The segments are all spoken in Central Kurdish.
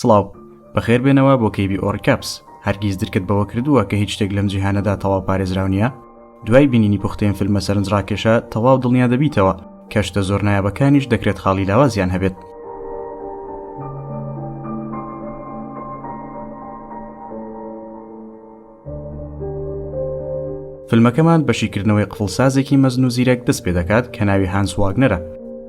سڵاو. بەخێر بێنەوە بۆ کەیبی ئۆڕیکاپس. هەرگیز درکت بەوە کردووە کە هیچ شتێک لەم جیهانەدا تەواو پارێزراو نییە؟ دوای بینینی پوختەی ئەم فیلمە سەرنجڕاکێشە، تەواو دڵنیا دەبیتەوە کە شتە زۆر نایابەکانیش دەکرێت خاڵی لاوازیان هەبێت. فیلمەکەمان بە شیکردنەوەی قفڵسازێکی مەزن و زیرەک دەست پێ دەکات کە ناوی هانس واگنەرە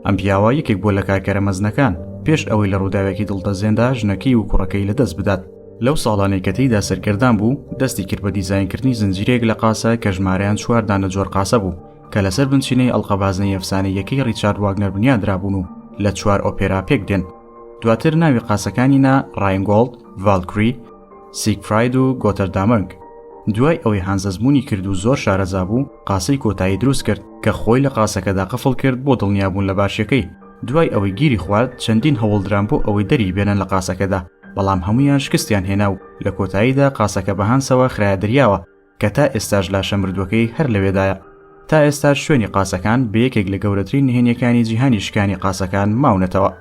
ئەم پیاوە یەکێک بۆ لە کارکەرە مەزنەکان پێش ئەوەی لە ڕووداوێکی دڵتەزێندا ژنەکەی و کوڕەکەی لەدەست بدات لەو ساڵانەی کە تێیدا سەرگەردان بوو دەستی کرد بە دیزاینکردنی زنجیرەیەک لە قاسە کە ژمارەیان چوار دانە جۆر قاسە بوو کە لەسەر بنچینەی ئەڵقەبازنەی ئەفسانەی یەکەی ڕیچارد واگنەر بنیان درابوون و لە چوار ئۆپێرا پێک دێن دواتر ناوی قاسەکانی نا ڕاینگۆڵد ڤالکری سیگفراید و گۆتەردامرگ. دوای ئەوەی هانز ئەزموونی کرد و زۆر شارەزا بوو، قاسەی کۆتایی دروست کرد، کە خۆی لە قاسەکەدا قفڵ کرد بۆ دڵنیابوون لە باشییەکەی. دوای ئەوەی گیری خوارد، چەندین هەوڵدران بۆ ئەوەی دەری بێنن لە قاسەکەدا، بەڵام هەموویان شکستیان هێنا و لە کۆتاییدا قاسەکە بە هانسەوە خرایە دەریاوە. کە تا ئێستاش لاشە مردووەکەی هەر لەوێدایە. تا ئێستاش شوێنی قاسەکان بە یەکێک لە گەورەترین نهێنیەکانی جیهانی شکانی قاسەکان ماونەتەوە.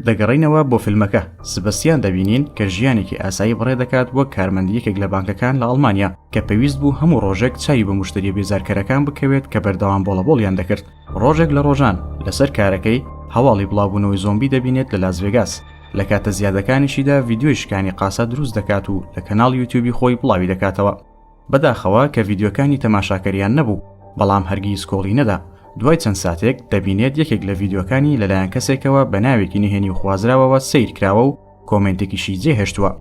دەگەڕینەوە بۆ فیلمەکە سبەستیان دەبینین کە ژیانێکی ئاسایی بڕێ دەکات وەک کارمەندی یەکێک لە بانکەکان لە ئەڵمانیا کە پێویست بوو هەموو ڕۆژێک چاوی بە مشتری بێزارکەرەکان بکەوێت کە بەردەوام بۆڵەبۆڵیان دەکرد ڕۆژێک لە ڕۆژان لەسەر کارەکەی هەواڵی بڵاوبوونەوەی زۆمبی دەبینێت لە لاس ڤێگاس لە کاتە زیادەکانیشیدا ڤیددیوی شکانی قاسە دروست دەکات و لە کەناڵ یوتیوبی خۆی بڵاوی دەکاتەوە بەداخەوە کە ڤیددیوەکانی تەماشاکەریان نەبوو بەڵام هەرگیز کۆڵی نەدا دوای چەند ساتێک دەبینێت یەکێک لە ڤیددیوەکانی لەلایەن کەسێکەوە بە ناوێکی نهێنی و خوازراوەوە سیر کراوە و کۆمنتێکیشی جێهێشتووە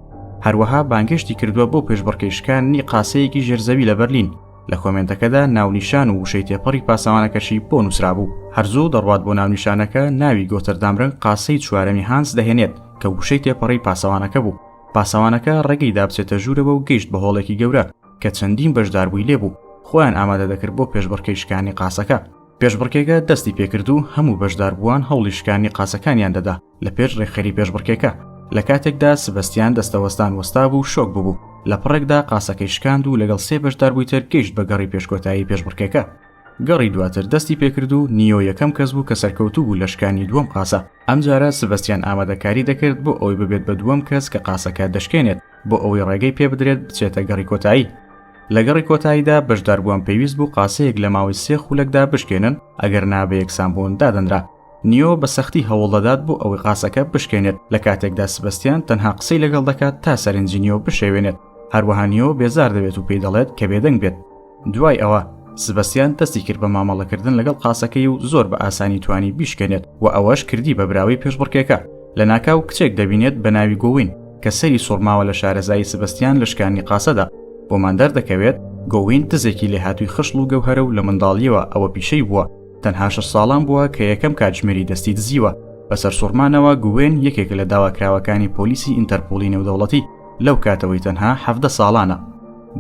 هەروەها بانگێشتی کردووە بۆ پێشبڕکێشکانی قاسەیەکی ژێرزەوی لە بەرلین لە کۆمێنتەکەدا ناونیشان و وشەی تێپەڕی پاسەوانەکەشی بۆ نووسرابوو هەرزوو دەڕوات بۆ ناونیشانەکە ناوی گۆتەردامرنگ قاسەی چوارەمی هانس دەهێنێت کە وشەی تێپەڕی پاسەوانەکە بوو پاسەوانەکە ڕێگەی دابچێتە ژوورەوە و گەیشت بە هۆڵێکی گەورە کە چەندین بەشداربووی لێبوو خۆیان ئامادە دەکرد بۆ پێشبڕکەی شکانی قاسەکە پێشبڕکێگە دەستی پێکرد و هەموو بەشداربووان هەوڵی شکانی قاسەکانیان دەدا لە پێش ڕێکخەری پێشبڕکێکە لە کاتێکدا سبەستیان دەستەوەستان وەستا بوو شۆک ببوو لە پڕێکدا قاسەکەی شکاند و لەگەڵ سێ بەشدار بووی تر گەیشت بە گەڕی پێشکۆتایی پێشبڕکێکە گەڕی دواتر دەستی پێکرد و نیۆ یەکەم کەس بوو کە سەرکەوتوو بوو لە شکانی دووەم قاسە ئەم جارە سبەستیان ئامادەکاری دەکرد بۆ ئەوەی ببێت بە دووەم کەس کە قاسەکە دەشکێنێت بۆ ئەوەی ڕێگەی پێ بدرێت بچێتە گەڕی کۆتایی لەگەڕی کۆتاییدا بەشداربووان پێویست بوو قاسەیەک لە ماوەی سێ خولەکدا بشکێنن ئەگەر نابە یەکسانبوون دادەنرا نیۆ بە سەختی هەوڵدەدات بۆ ئەوەی قاسەکە بشکێنێت لە کاتێکدا سبەستیان تەنها قسەی لەگەڵ دەکات تا سەرنجی نیۆ بشێوێنێت هەروەها نیۆ بێزار دەبێت و پێی دەڵێت کە بێدەنگ بێت دوای ئەوە سبەستیان دەستی کرد بە مامەڵەکردن لەگەڵ قاسەکەی و زۆر بە ئاسانی توانی بیشکێنێت و ئەوەش کردی بە براوەی پێشبڕکێکە لە ناکاو کچێک دەبینێت بە ناوی گۆوین کە سەری سوڕماوە لە شارەزایی سبەستیان لە شکانی قاسەدا بۆمان دەردەکەوێت گۆوین دزێکی لێهاتووی خشڵ و گەوهرە و لە منداڵیەوە ئەوە پیشەی بووە تەنها شەش ساڵان بووە کە یەکەم کاتژمێری دەستی دزیوە بە سەرسوڕمانەوە گوێن یەکێک لە داواکراوەکانی پۆلیسی ئینتەرپۆلی نێودەوڵەتی لەو کاتەوەی تەنها حەفدە ساڵانە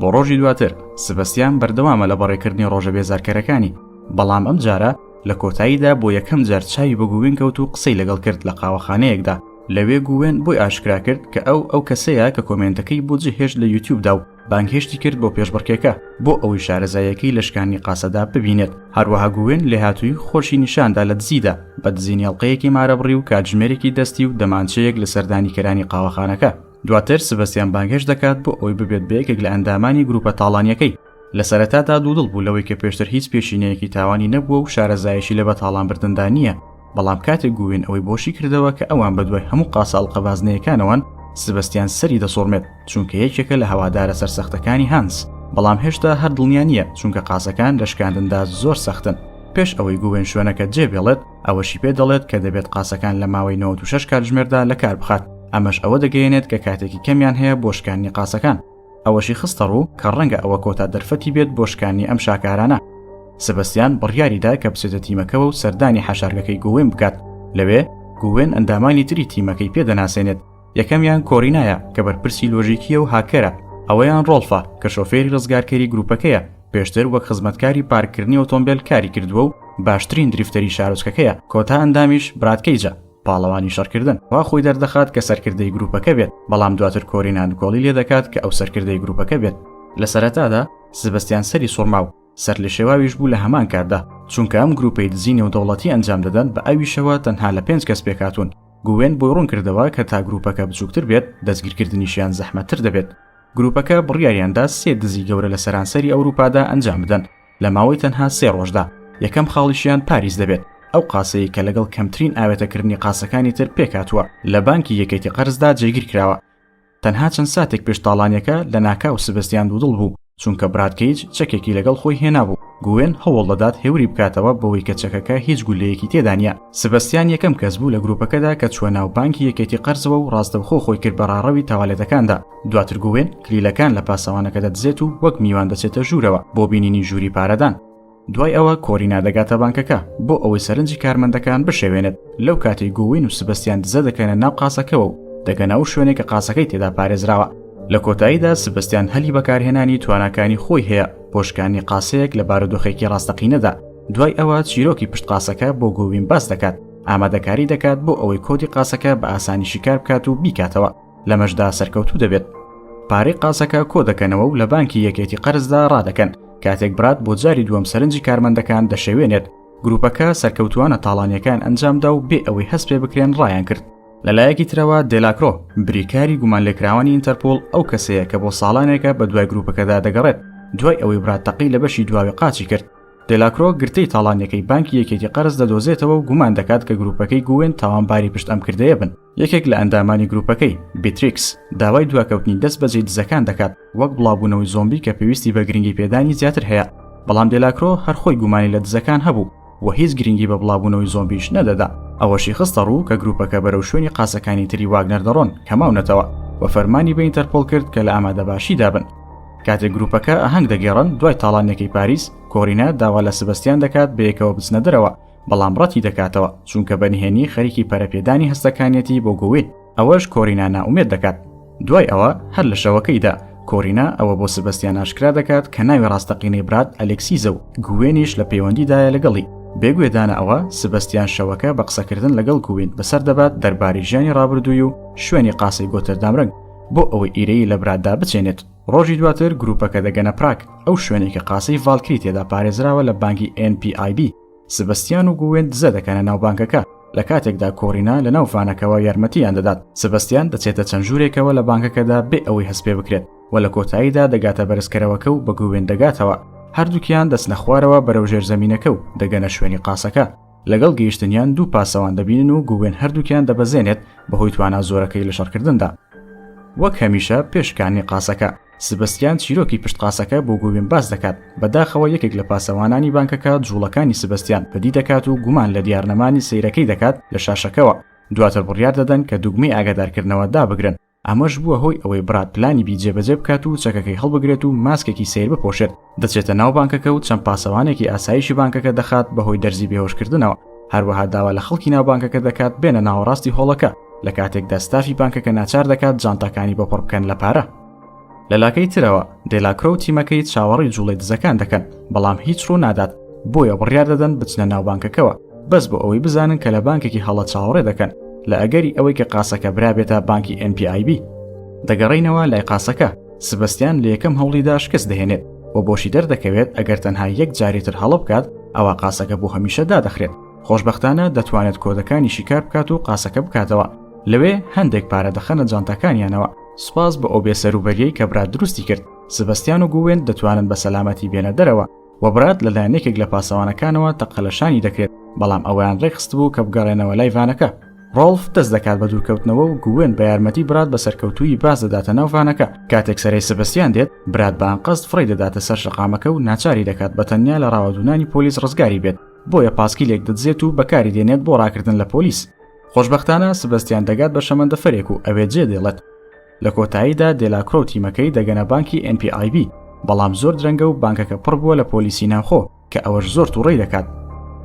بۆ ڕۆژی دواتر سبەستیان بەردەوامە لە بەڕێکردنی ڕۆژە بێزارکەرەکانی بەڵام ئەم جارە لە کۆتاییدا بۆ یەکەم جار چاوی بە گووین کەوت و قسەی لەگەڵ کرد لە قاوەخانەیەکدا لەوێ گووێن بۆی ئاشکرا کرد کە ئەو ئەو کەسەیە کە کۆمێنتەکەی بۆ جهێشت لە یوتیوبدا و بانگهێشتی کرد بۆ پێشبڕکێکە بۆ ئەوەی شارەزایەکەی لە شکانی قاسەدا ببینێت هەروەها گوێن لێهاتووی خۆشی نیشاندا لە دزیدا بە دزینی ئەڵلقەیەکی مارەبڕی و کاتژمێرێکی دەستی و دەمانچەیەک لە سەردانی کەرانی قاوەخانەکە دواتر سبەستیان بانگهێش دەکات بۆ ئەوەی ببێت بە یەکێک لە ئەندامانی گروپە تاڵانیەکەی لە سەرەتادا دوودڵ بوو لەوەی کە پێشتر هیچ پێشینەیەکی تاوانی نەبووە و شارەزایشی لە بەتاڵانبردندا نییە بەڵام کاتێک گووین ئەوەی بۆ شی کردەوە کە ئەوان بەدوای هەموو قاساڵقە بازنەیەکانەوەن سبەستیان سەری دەسوڕمێت چونکە یەکێکە لە هەوادارە سەرسەختەکانی هانس بەڵام هێشتا هەر دڵنیا نییە چونکە قاسەکان لە شکاندندا زۆر سەختن پێش ئەوەی گووێن شوێنەکە جێ بێڵێت ئەوەشی پێ دەڵێت کە دەبێت قاسەکان لە ماوەی 96 کاتژمێردا لە کار بخات ئەمەش ئەوە دەگەیەنێت کە کاتێکی کەمیان هەیە بۆ شکاندنی قاسەکان ئەوەشی خستەڕوو کە ڕەنگە ئەوە کۆتا دەرفەتی بێت بۆ شکانی ئەم شاکارانە. سبەستیان بڕیاریدا کە بچێتە تیمەکەوە و سەردانی حەشارگەکەی گووێن بکات، لەوێ گووێن ئەندامانی تری تیمەکەی پێ دەناسێنێت، یەکەمیان کۆرینایە کە بەرپرسی لۆژیکییە و هاککەرە، ئەویان ڕۆڵفە کە شۆفێری ڕزگارکەری گرووپەکەیە، پێشتر وەک خزمەتکاری پارککردنی ئۆتۆمبێل کاری کردووە و باشترین دریفتەری شارۆچکەکەیە، کۆتا ئەندامیش براد کەیجە. پاڵەوانی شەڕکردن وا خۆی دەردەخات کە سەرکردەی گروپەکە بێت بەڵام دواتر کۆری ناندکۆڵی لێ دەکات کە ئەو سەرکردەی گروپەکە بێت لە سەرەتادا سبستیان سەری سوڕما و سەر لە شێواویش بوو لە هەمان کاتدا چونکە ئەم گروپەی دزی نێودەوڵەتی ئەنجام دەدەن بە ئەویشەوە تەنها لە پێنج کەس پێکاتون گوێن بۆی ڕوون کردەوە کە تا گروپەکە بچووکتر بێت دەستگیرکردنیشیان زەحمەتتر دەبێت گروپەکە بڕیاریاندا سێ دزی گەورە لە سەرانسەری ئەوروپادا ئەنجام بدەن لە ماوەی تەنها سێ ڕۆژدا یەکەم خاڵیشیان پاریس دەبێت ئەو قاسەیە کە لەگەڵ کەمترین ئاوێتەکردنی قاسەکانی تر پێکاتوە لە بانکی یەکێتی قەرزدا جێگیر کراوە تەنها چەند ساتێک پێش تاڵانیەکە لە ناکاو سبستیان دوودڵ بوو چونکە برادکەیج چەکێکی لەگەڵ خۆی هێنابوو گوێن هەوڵ دەدات هێوری بکاتەوە بەوەی کە چەکەکە هیچ گولەیەکی تێدانە سبستیان یەکەم کەس بوو لە گروپەکەدا کە چوە ناو بانکی یەکێتی قەرزەوە و ڕاستەوخۆ خۆی کرد بە ڕاڕەوی تاوالێتەکاندا دواتر گووێن کلیلەکان لە پاسەوانەکە دەدزێت و وەک میوان دەچێتە ژوورەوە بۆ بینینی ژووری پارەدان دوای ئەوە کۆرینا دەگاتە بانکەکە بۆ ئەوەی سەرنجی کارمەندەکان بشێوێنێت لەو کاتی گووین و سبستیان دزە دەکەنە ناو قاسەکەەوە و دەگەنە و شوێنێک کە قاسەکەی تێدا پارێزراوە لە کۆتاییدا سبستیان هەلی بەکارهێنانی تواناکانی خۆی هەیە پۆشکانی قاسەیەک لە بارودۆخێکی ڕاستەقینەدا دوای ئەوە چیرۆکی پشت قاسەکە بۆ گووین باس دەکات ئامادەکاری دەکات بۆ ئەوەی کۆدی قاسەکە بە ئاسانی شیکار بکات و بیکاتەوە لەمەشدا سەرکەوتوو دەبێت پارەی قازەکە کۆ دەکەنەوە و لە بانکی یەکێتی قەرزدا ڕادەکەن کاتێک برات بۆ جاری دووەم سەرنجی کارمەندەکان دەشێوێنێت گروپەکە سەرکەوتوانە تاڵانیەکان ئەنجامدا و بێ ئەوەی هەست پێ بکرێن ڕایان کرد لەلایەکی ترەوە دێلاکرۆ بریکاری گومان لێکراوانی ئینتەرپۆل ئەو کەسەیە کە بۆ ساڵانێکە بە دوای گروپەکەدا دەگەڕێت دوای ئەوەی برات تەقی لە بەشی دواوی قاچی کرد دێلاکرۆ گرتەی تاڵانیەکەی بانکی یەکێتی قەرز دەدۆزێتەوە و گومان دەکات کە گروپەکەی گوێن تاوانباری پشت ئەم کردەیە بن یەکێک لە ئەندامانی گروپەکەی بیتریکس داوای دواکەوتنی دەست بەجێ دزەکان دەکات وەک بڵاوبوونەوەی زۆمبی کە پێویستی بە گرنگی پێدانی زیاتر هەیە بەڵام دێلاکرۆ هەرخۆی گومانی لە دزەکان هەبوو و هیچ گرنگی بە بڵاوبوونەوەی زۆمبیش نەدەدا ئەوەشی خستە ڕوو کە گروپەکە بەرەو شوێنی قاسەکانی تری واگنەر دەڕۆن کە ماونەتەوە و فەرمانی بە ئینتەرپۆل کرد کە لە ئامادەباشی دابن کاتێک گروپەکە ئاهەنگ دەگێڕن دوای تاڵانێکی پاریس کۆرینە داوا لە سبستیان دەکات بەیەکەوە بچنە دەرەوە بەڵام ڕەتی دەکاتەوە چونکە بە نهێنی خەریکی پەرەپێدانی هەستەکانیەتی بۆ گۆوین ئەوەش کۆرینا نائومێد دەکات دوای ئەوە هەر لە شەوەکەیدا کۆرینا ئەوە بۆ سبەستیان ئاشکرا دەکات کە ناوی ڕاستەقینەی برات ئەلکسیزە و گوێنیش لە پەیوەندیدایە لەگەڵی بێگوێدانە ئەوە سبەستیان شەوەکە بە قسەکردن لەگەڵ گوین بەسەر دەبات دەرباری ژیانی ڕابردووی و شوێنی قاسەی گۆتەردامرەنگ بۆ ئەوەی ئیرەیی لە براتدا بچێنێت ڕۆژی دواتر گروپەکە دەگەنە پراگ ئەو شوێنێک کە قاسەی ڤالکری تێدا پارێزراوە لە بانگی NPIB سبستیان و گوێن دزە دەکەنە ناو بانکەکە لە کاتێکدا کۆرینا لە ناو فانەکەەوە یارمەتیان دەدات سبستیان دەچێتە چەند ژوورێکەوە لە بانکەکەدا بێ ئەوەی هەست پێ بکرێت و لە کۆتاییدا دەگاتە بەرزکەرەوەکە و بە گوێن دەگاتەوە هەردووکیان دەستنە خوارەوە بەرەو ژێر زەمینەکە و دەگەنە شوێنی قاسەکە لەگەڵ گەیشتنیان دوو پاسەوان دەبینن و گووێن هەردووکیان دەبەزێنێت بەهۆی توانا زۆرەکەی لە شەڕکردندا. وەک هەمیشە پێش شکاندنی قاسەکە، سبستیان چیرۆکی پشت قاسەکە بۆ گووێن باس دەکات، بەداخەوە یەکێک لە پاسەوانانی بانکەکە جووڵەکانی سبستیان بەدی دەکات و گومان لە دیارنەمانی سەیرەکەی دەکات لە شاشەکەوە، دواتر بڕیار دەدەن کە دوگمەی ئاگادارکردنەوە دابگرن. ئەمەش بووە هۆی ئەوەی براد پلانی بی جێبەجێ بکات و چەکەکەی هەڵبگرێت و ماسکێکی سەیر بپۆشێت، دەچێتە ناو بانکەکە و چەند پاسەوانێکی ئاسایشی بانکەکە دەخات بەهۆی دەرزی بێهۆشکردنەوە، هەروەها داوا لە خەڵکی ناو بانکەکە دەکات بێنە ناوەڕاستی هۆڵەکە، لەکاتێکدا ستافی بانکەکە ناچار دەکات جانتاکانی بۆ پڕبکەن لە پارە. لە لاکەی ترەوە دێلاکرۆ و تیمەکەی چاوەڕی جوڵەی دزەکان دەکەن بەڵام هیچ ڕوو نادات بۆیە بڕیار دەدەن بچنە ناو بانکەکەوە بەس بۆ ئەوەی بزانن کە لە بانکێکی هەڵە چاوەڕێ دەکەن لە ئەگەری ئەوەی کە قاسەکە برابێتە بانکی NPIB دەگەڕینەوە لای قاسەکە سبستیان لە یەکەم هەوڵیدا شکست دەهێنێت و بۆشی دەردەکەوێت ئەگەر تەنها یەک جاری تر هەڵە بکات ئەوە قاسەکە بۆ هەمیشە دادەخرێت خۆشببختانە دەتوانێت کۆدەکانی شیکار بکات و قاسەکە بکاتەوە لەوێ هەندێک پارە دەخەنە جانتاکانیانەوە سوپاس بۆ ئەو بێ سەروبەریەی کە برات دروستی کرد، سبەستیان و گووێن دەتوانن بە سەلامەتی بێنە دەرەوە، وە برات لەلایەن یەکێک لە پاسەوانەکانەوە تەقە لە شانی دەکرێت، بەڵام ئەوەیان ڕێکخستبوو کە بگەڕێنەوە لای ڤانەکە. ڕۆڵف دەست دەکات بە دوورکەوتنەوە و گووێن بە یارمەتی برات بە سەرکەوتوویی باز دەداتە ناو ڤانەکە، کاتێک سەرەی سبەستیان دێت، برات بە ئەنقەست فڕێی دەداتە سەر شەقامەکە و ناچاری دەکات بە تەنیا لە ڕاوەدوونانی پۆلیس ڕزگاری بێت، بۆیە پاسکیلێک دەدزێت و بەکاری دێنێت بۆ ڕاکردن لە پۆلیس. خۆشببختانە سبستیان دەگات بە شەمەندەفەرێک و ئەوێ جێ دێڵێت لە کۆتاییدا دێلاکرۆ و تیمەکەی دەگەنە بانکی NPIB بەڵام زۆر درەنگە و بانکەکە پڕ بووە لە پۆلیسی ناوخۆ کە ئەوەش زۆر تووڕی دەکات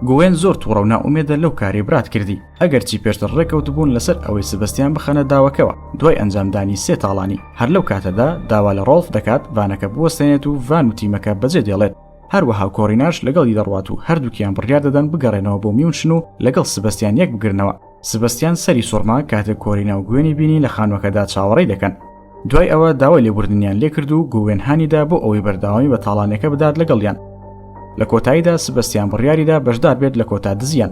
گوێن زۆر تووڕە و ناومێدە لەو کاری برات کردی ئەگەرچی پێشتر ڕێکەوت بوون لەسەر ئەوەی سبستیان بخەنە داوەکەوە دوای ئەنجامدانی سێ تاڵانی هەر لەو کاتەدا داوا لە ڕۆڵف دەکات بانەکە بوەستێنێت و ڤان و تیمەکە بەجێ دێڵێت هەروەها کۆڕیناش لەگەڵی دەڕوات و هەردووکیان بڕیار دەدەن بگەڕێنەوە بۆ میونشن و لەگەڵ سبەستیان یەک بگرنەوە سبەستیان سەری سوڕما کاتێک کۆرینا و گوێنی بینی لە خانوەکەدا چاوەڕی دەکەن دوای ئەوە داوای لێبوردنیان لێکرد و گوێنهانیدا بۆ ئەوەی بەرداوامی بە تاڵانەکە بدات لەگەڵیان لە کۆتاییدا سبەستیان بڕیاریدا بەشدار بێت لە کۆتا دزیان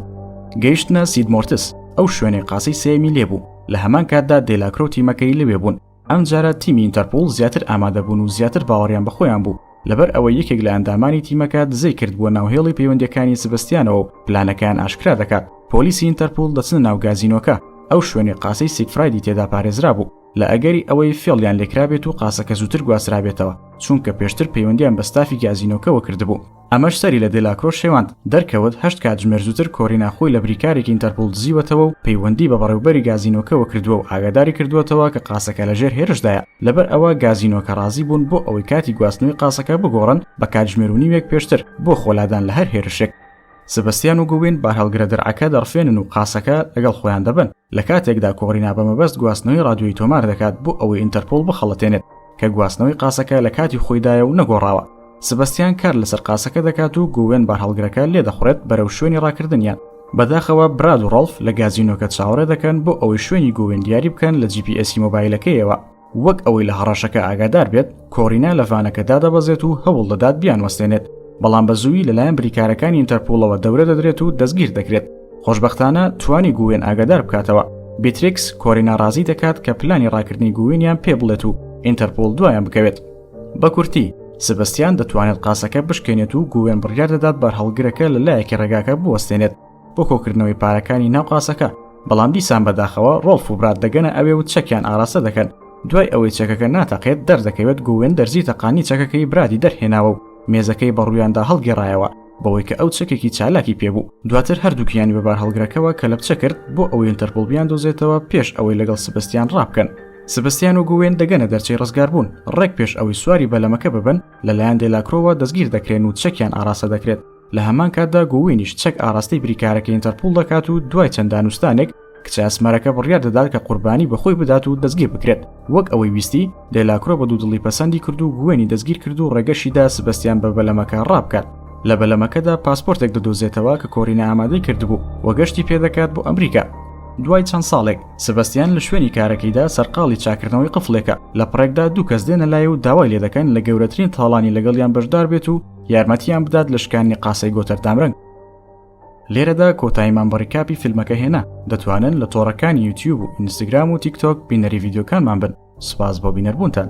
گەیشتنە سیدمۆرتس ئەو شوێنەی قاسەی سێمی لێبوو لە هەمان کاتدا دێلاکرۆتی مەکەی لەوێ بوون ئەمجارە تیمی ئینتەرپۆڵ زیاتر ئامادەبوون و زیاتر باوەڕیان بەخۆیان بوو لەبەر ئەوە یەکێک لە ئەندامانی تیمەکە دزەی کرد بووە ناوهێڵی پەیوەندەکانی سبستیانەوە و پلانەکەیان ئاشکرا دەکات پۆلیسی ئینتەرپۆل دەچنە ناو گازینۆکە ئەو شوێنی قاسەی سیکفرایدی تێدا پارێزرا بوو لە ئەگەری ئەوەی فێڵیان لێکرابێت و قاسەکە زووتر گواسترابێتەوە چونکە پێشتر پەیوەندیان بە ستافی گازینۆکەوە کردبوو ئەمەش سەری لە دێلاکرۆ شێواند، دەرکەوت هەشت کاتژمێر زووتر کۆرینا خۆی لە بریکارێکی ئینتەرپۆڵ دزیوەتەوە و پەیوەندی بە بەڕێوبەری گازینۆکەوە کردووە و ئاگاداری کردووەتەوە کە قاسەکە لە ژێر هێرشدایە، لەبەر ئەوە گازینۆکە ڕازی بوون بۆ ئەوەی کاتی گواستنەوەی قاسەکە بگۆڕن بە کاتژمێر و نیوێک پێشتر بۆ خۆلادان لە هەر هێرشێک. سبستیان و گووین بارهەڵگرە درعەکە دەڕفێنن و قاسەکە لەگەڵ خۆیان دەبەن. لە کاتێکدا کۆرینا بە مەبەست گواستنەوەی ڕادیۆیی تۆمار دەکات بۆ ئەوەی ئینتەرپۆڵ بخەڵەتێنێت کە گواستنەوەی قاسەکە لە کاتی خۆیدایە و نەگۆڕاوە، سبەستیان کار لەسەر قاسەکە دەکات و گووێن بارهەڵگرەکە لێدەخوڕێت بەرەو شوێنی ڕاکردنیان. بەداخەوە براد و ڕاڵف لە گازینۆکە چاوەڕێ دەکەن بۆ ئەوەی شوێنی گووێن دیاری بکەن لە جی پی ئێسی مۆبایلەکەیەوە، وەک ئەوەی لە هەڕەشەکە ئاگادار بێت کۆرینا لە ڤانەکە دادەبەزێت و هەوڵ دەدات بیان وەستێنێت بەڵام بە زووی لەلایەن بریکارەکانی ئینتەرپۆڵەوە دەورە دەدرێت و دەستگیر دەکرێت خۆشببختانە توانی گوێن ئاگادار بکاتەوە بیتریکس کۆری ناڕازی دەکات کە پلانی ڕاکردنی گوێنیان پێ بڵێت و ئینتەرپۆل دوایان بکەوێت بە کورتی سبستیان دەتوانێت قاسەکە بشکێنێت و گوێن بڕیار دەدات بەرهەڵگرەکە لە لایەکی ڕێگاکە بوەستێنێت بۆ کۆکردنەوەی پارەکانی ناو قاسەکە بەڵام دیسان بەداخەوە ڕۆڵف و برات دەگەنە ئەوێ و چەکیان ئاراستە دەکەن دوای ئەوەی چەکەکە ناتەقێت دەردەکەوێت گوێن دەرزی تەقانی چەکەکەی برادی دەرهێناوە و مێزەکەی بەڕوویاندا هەڵگێڕایەوە بەوەی کە ئەو چەکێکی چالاکی پێبوو دواتر هەردووکیانی بەبار هەڵگرەکەەوە کە لەپچە کرد بۆ ئەوەی ئەتەرپۆڵ بیان دۆزێتەوە پێش ئەوەی لەگەڵ سبستیان ڕابکەن سبستیان و گوێن دەگەنە دەرچەی ڕزگار بوون ڕێک پێش ئەوەی سواری بەلەمەکە ببن لەلایەن دێلاکرۆوە دەستگیر دەکرێن و چەکیان ئاراستە دەکرێت لە هەمان کاتدا گووینیش چەک ئاراستەی بریکارەکە ئینتەرپول دەکات و دوای چەند دانوستانێک کچە ئەسمەرەکە بڕیار دەدات کە قوربانی بەخۆی بدات و دەستگیر بکرێت وەک ئەوەی ویستی دێلاکرۆ بە دوودڵی پەسەندی کرد و گوێنی دەستگیر کرد و ڕێگەشیدا سبەستیان بە بەلەمەکە ڕابکات لە بەلەمەکەدا پاسپۆرتێک دەدۆزێتەوە کە کۆرینە ئامادەی کردبوو وەگەشتی پێدەکات بۆ ئەمریکا دوای چەند ساڵێک سبەستیان لە شوێنی کارەکەیدا سەرقاڵی چاکردنەوەی قفلێکە لە پڕێکدا دوو کەس دێنە لای و داوای لێ دەکەن لە گەورەترین تاڵانی لەگەڵیان بەشدار بێت و یارمەتیان بدات لە شکانی قاسەی گۆتەر دامرنگ لێرەدا کۆتاییمان بە ڕیکاپی فیلمەکە هێنا دەتوانن لە تۆڕەکانی یوتیوب و ئینستاگرام و تیکتۆک بینەری یددیوکانمان بن سپاس بۆ بینەربوونتان